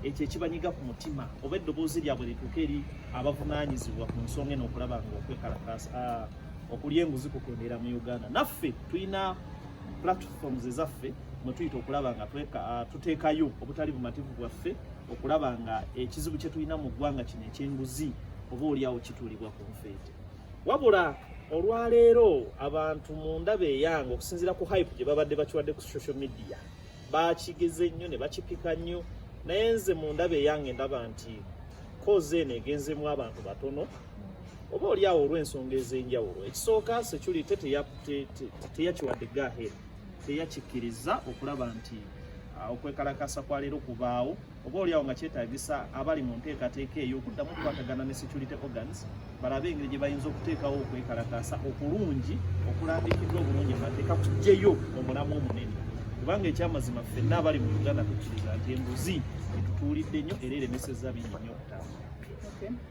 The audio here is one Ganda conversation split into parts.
ekyo ekibanyiga ku mutima oba eddoboozi lyabwe lituuka eri abavunaanyizibwa ku nsonga eno okulaba nga okwekalakaasa ah, okulya enguzi kukendeera mu uganda naffe tulina platforms ezaffe mwe tuyita okulaba nga ah, tuteekayo obutali bumativu bwaffe okulaba nga ekizibu kye tulina mu ggwanga kino ekyenguzi oba olyawo kituulibwa ku nfeete wabula olwaleero abantu mu ndaba eyange okusinziira ku hype gye babadde bakiwadde ku social media baakigeze nnyo ne bakipika nnyo naye nze mu ndaba eyange ndaba nti kozi eno egenzemu abantu batono oba oli awo olw'ensonga ez'enjawulo ekisooka security teyakiwadde gahe teyakikkiriza okulaba nti ah, okwekalakasa kwa leero kubaawo oba olyawo nga kyetagisa abali mu nteekateeka eyo okuddamu okukwatagana ne security organs balabe engeri gye bayinza okuteekawo okwekalakaasa okulungi okulambikiddwa obulungi amateeka kugyeyo omulamu omunene kubanga ekyamazima ffenna abali mu uganda tukkiriza nti enguzi etutuulidde nnyo era eremesezza bingi nnyo okutambula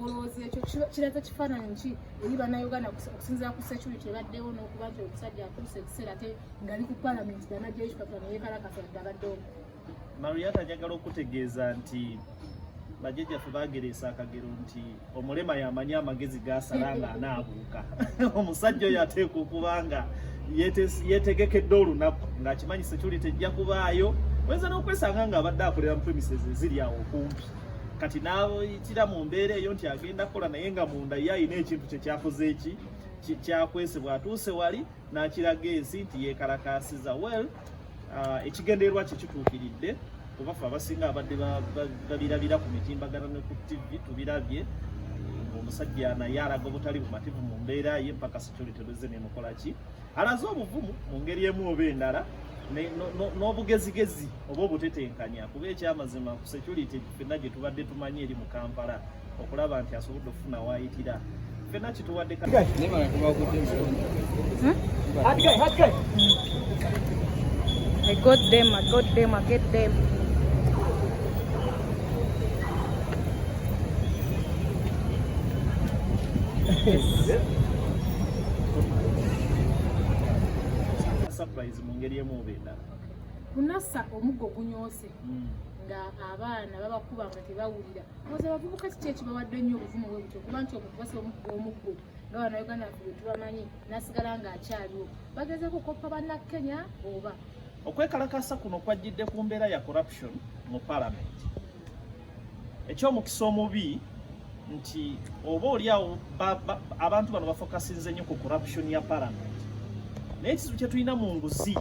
olowooza ekyo kiraga kifaananyi ki eri bannayuganda okusinzira ku security ebaddewo n'okuba nti omusajja atuuse ekiseera te ngali ku palamenti banajeishpapula neyekalakasa dde abaddewo mariata njagala okutegeeza nti bajjajjaffe bagereesa akagero nti omulema yamanyi amagezi gasala nga anaabuuka omusajja oyo ateekwa okuba nga yetegekedde olunaku ng'akimanyi security ejja kubaayo oyinza n'okwesanga ng'abadde akolera mu premises eziri awo okumpi kati n'ayitira mu mbeera eyo nti agenda kukola naye nga munda ye alina ekintu kye kyakoze eki kyakwese bw'atuuse wali n'akiraga ensi nti yeekalakaasiza well uh, ekigendererwa kye kituukiridde kuba fe abasinga abadde babirabira ku mitimbagano ne ku tv tubirabye omusajja naye alaga obutali bumativu mu mbeera ye mpaka security lwezze nemukolaki alaze obuvumu mu ngeri emu oba endala n'obugezigezi oba obutetenkanya kuba ekyamazima ku security fenna gye tubadde tumanyi eri mu kampala okulaba nti asobodde okufuna waayitira fenna kituwadde I got them, I got them, I get them. Yes. surprise mu ngeri emu oba endala kunasa omuggo gunyoose hmm. nga abaana babakuba nga tebawulira oza abavubuka kiki ekibawadde nnyo obuvumu bwe butyo kuba nti okukubasa omuggo omuggo nga banauganda fe betubamanyi nasigala nga akyaliwo bagezeko okoppa bannakenya oba okwekalakasa kuno kwajjidde ku mbeera ya corruption mu palamenti ekyomukisa omubi nti oba olyawo abantu bano bafokasinze nnyo ku corruption ya parliament naye ekizibu kyetulina mu nguzi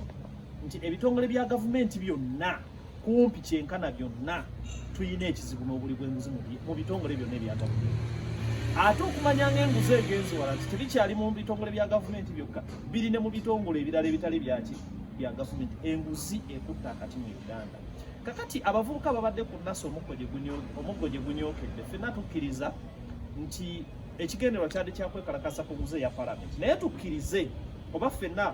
nti ebitongole bya gavumenti byonna kumpi kyenkana byonna tulina ekizibu n'obuli bwenguzi mu bitongole byonna ebya gavumenti ate okumanya nga enguzi egenzi wala nti tebikyali mu bitongole bya gavumenti byokka biri ne mu bitongole ebirala ebitali byaki bya gavumenti enguzi ekutta akati mu uganda kakati abavubuka babadde ku nasa omuggo gye gunyokedde fenna tukkiriza nti ekigendererwa kyadde kyakwekalakasa ku nguze ya palamenti naye tukkirize oba fenna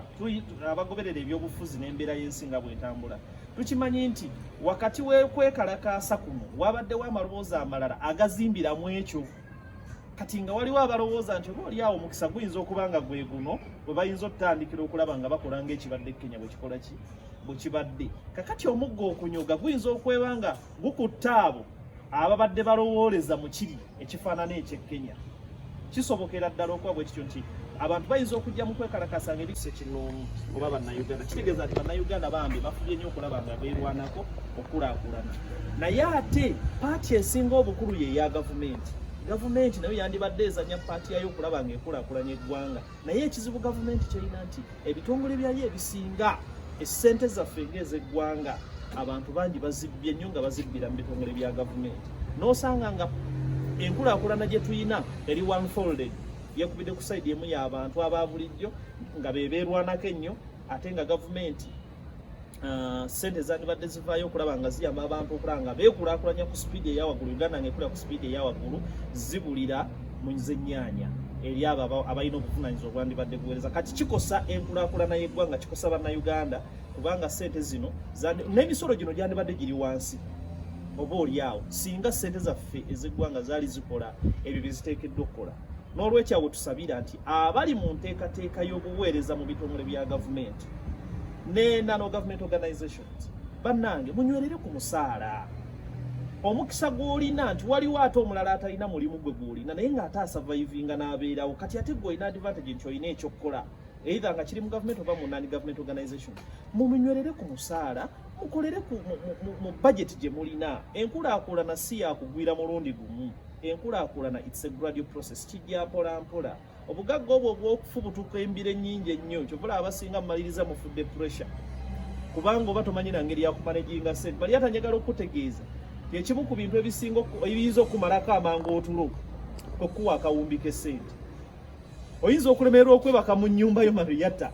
abagoberera ebyobufuzi n'embeera y'ensi nga bwetambula tukimanyi nti wakati wekwekalakaasa kuno wabaddewo amaloboozi amalala agazimbira mu ekyo kati nga waliwo abalowooza nti oba olyawo omukisa guyinza okuba nga gwe guno bwe bayinza okutandikira okulaba nga bakola ngaekibadde kenya bwekikola ki bwekibadde kakati omugga okunyoga guyinza okweba nga gukutta abo ababadde balowooleza mu kiri ekifaanana eky'e kenya kisobokera ddala okuba bwe kityo nti abantu bayinza okujja mu kwekalakasa nga ebisa ekinoomu oba bannayuganda kitegeeza nti bannayuganda bambi bafubye nnyo okulaba nga beerwanako okulaakulana naye ate paati esinga obukulu ye eya gavumenti gavumenti nayo yandibadde ezanya paati yayo okulaba nga ekulaakulanya eggwanga naye ekizibu gavumenti kyerina nti ebitongole byayo ebisinga esente zaffe ngaezeggwanga abantu bangi bazibbye nnyo nga bazibbira mu bitongole bya gavumenti nosanga nga enkulakulana gyetulina eri one folded yekubidde ku saidi emu y'abantu aba bulijjo nga bebeerwanako ennyo ate nga gavumenti Ah, sente uh, zandibadde zivaayo okulaba nga ziyamba abantu okulaba nga beekulakulanya ku sipiidi eyawaggulu uganda nga ekulira ku sipiidi eyawaggulu zibulira mu zennyanya eri abo abalina obuvunanyizibwa obwandibadde buweereza kati kikosa enkulakulana y'eggwanga kikosa bannayuganda kubanga sente zino n'emisolo gino gyandibadde giri wansi oba olyawo singa sente zaffe ez'eggwanga zaali zikola ebyo bye ziteekeddwa okukola N'olwekyo awo tusabira nti abali mu nteekateeka y'obuweereza mu bitongole bya gavumenti ne nano government organizations bannange munywerere ku musaala omukisa gw'olina nti waliwo ate omulala atalina mulimu gwe gw'olina naye ng'ate asavaivinga n'abeerawo kati ate gwe olina advantage nti olina ekyokukola eitha nga kiri mu gavumenti oba mu nani gavumenti organization mumunywerere ku musaala mukolere mu bajeti gye mulina enkulaakulana si yakugwira mulundi gumu enkulaakulana its a gradual process kijja mpola mpola obugagga obwo obwokufubutuka embira ennyingi ennyo kyovula abasinga mumaliriza mufudde pressure kubanga oba tomanyi na ngeri yakumanaginga sente bali atanyagala okukutegeeza kyekimu ku bintu ebisinga ebiyinza okumalako amangu otulo okuwa akawumbi kesente oyinza okulemererwa okwebaka mu nyumba yo mariyata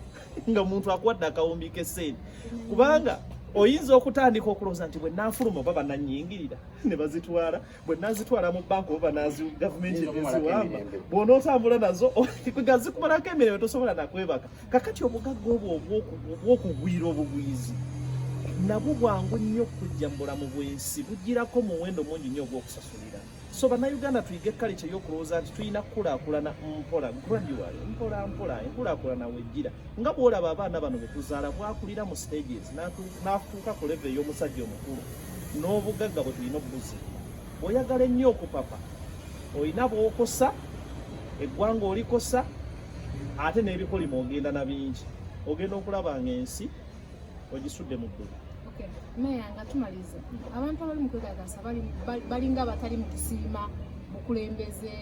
nga muntu akuwadde akawumbi kesente kubanga oyinza okutandika okulowooza nti bwe nafuluma oba bananyingirira ne bazitwala bwe nazitwala mu banka oba nazi gavumenti eziwamba bw'onootambula nazo nga zikumalako emirembe tosobola nakwebaka kakati obugagga obwo obw'okugwira obugwizi nabwo bwangu nnyo okujja mu bulamu bw'ensi bugirako muwendo mungi nnyo ogw'okusasulira so bannayuganda tuyige kalica ey'okulowooza nti tulina kukulaakulana mpola gradual mpola mpola enkulaakulana wejjira nga bw'olaba abaana bano betuzaala bwakulira mu stages n'atuuka ku leve ey'omusajja omukulu n'obugagga bwe tulina obubuzi oyagala ennyo okupapa olina bwokosa eggwanga olikosa ate n'ebikolimo ogenda na bingi ogenda okulaba nga ensi ogisudde mu ggulu meya nga tumalize abantu abali mu kwegagasa balinga abatali mu kusiima bukulembeze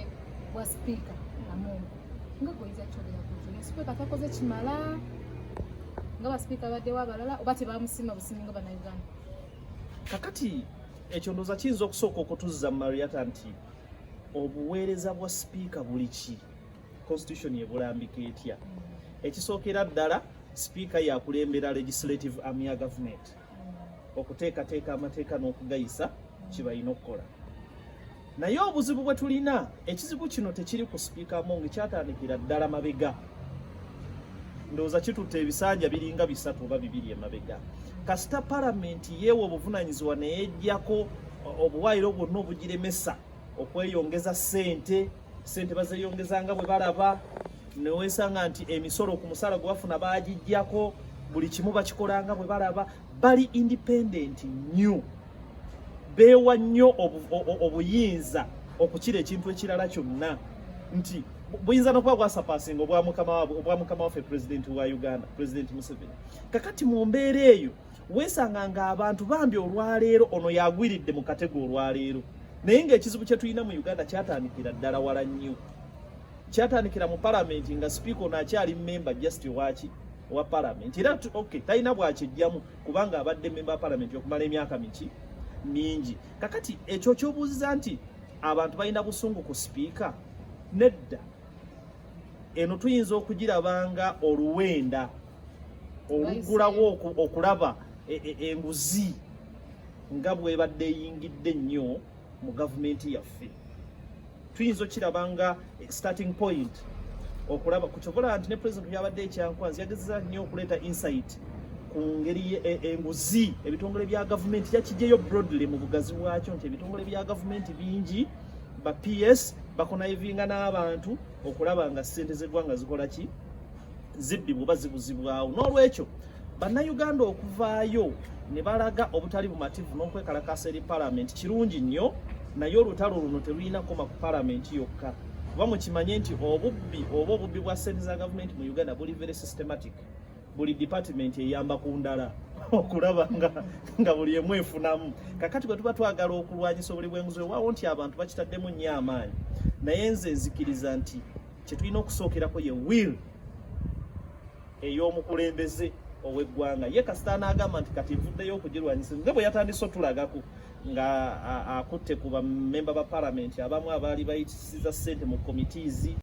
bwa sipiika amungu nga goyiza kyogerakuzino sipiika takoze kimala nga basipiika baddewo abalala oba tebamusiima busiimi nga banauganda kakati ekyo ndoza kiyinza okusooka okutuzza mariata nti obuweereza bwa sipiika buli ki constitution ebulambika etya ekisookera ddala sipiika yakulembera legislative army ya government okuteekateeka amateeka n'okugayisa kibalina okukola naye obuzibu bwe tulina ekizibu kino tekiri ku sipiika among kyatandikira ddala mabega ndowooza kitutte ebisanja biringa bisatu oba bibiri emabega kasita palamenti yeewa obuvunanyizibwa neyejjako obuwaayiro bwonna obugiremesa okweyongeza sente sente bazeyongeza nga bwe balaba newesanga nti emisolo ku musala gwe bafuna bagijjako buli kimu bakikolanga bwe balaba bali independent new beewa nnyo obuyinza okukira ekintu ekirala kyonna nti buyinza nokuba bwasapasinga obwa mukama waffe pulezidenti wa uganda pulezidenti museveni kakati mu mbeera eyo weesanga nga abantu bambi olwaleero ono yagwiridde mu katego olwaleero naye ngaekizibu kyetulina mu uganda kyatandikira ddala wala nnyo kyatandikira mu palamenti nga sipiika ono akyali memba just waki wa palamenti era ok talina bwakyejjamu kubanga abadde memba wa palamenti okumala emyaka miki mingi kakati ekyo kyobuuziza nti abantu balina busungu ku sipiika nedda eno tuyinza okugirabanga oluwenda oluggulawo okulaba e, e, enguzi nga bwebadde eyingidde ennyo mu gavumenti yaffe tuyinza okiraba nga starting point okulaba ku kyovola nti ne president yabadde ekyankwanzi yagezeza nnyo okuleeta insight ku ngeri e, enguzi ebitongole bya gavumenti yakigyeyo broadly mu bugazi bwakyo nti ebitongole bya gavumenti bingi ba ps bakonayivinga n'abantu okulaba nga ssente z'eggwanga zikola ki zibbibwa oba zibuzibwawo n'olwekyo bannayuganda okuvaayo ne balaga obutali bumativu n'okwekalakaasa eri palamenti kirungi nnyo naye olutalo luno terulina koma ku palamenti yokka kuba mukimanye nti obubbi oba obubbi bwa sente za gavumenti mu uganda buli very systematic buli department eyamba ku ndala okulaba nga, nga buli emu efunamu kakati bwe tuba twagala okulwanyisa obuli bwenguzi wewawo nti abantu bakitaddemu nnyo amaanyi naye nze nzikiriza nti kyetulina okusookerako ye will ey'omukulembeze ow'eggwanga ye kasita anaagamba nti kati nvuddeyo okugirwanyisa nga bwe yatandise otulagako nga akutte ku bamemba ba palamenti abamu abaali bayitisiza ssente mu komitiizi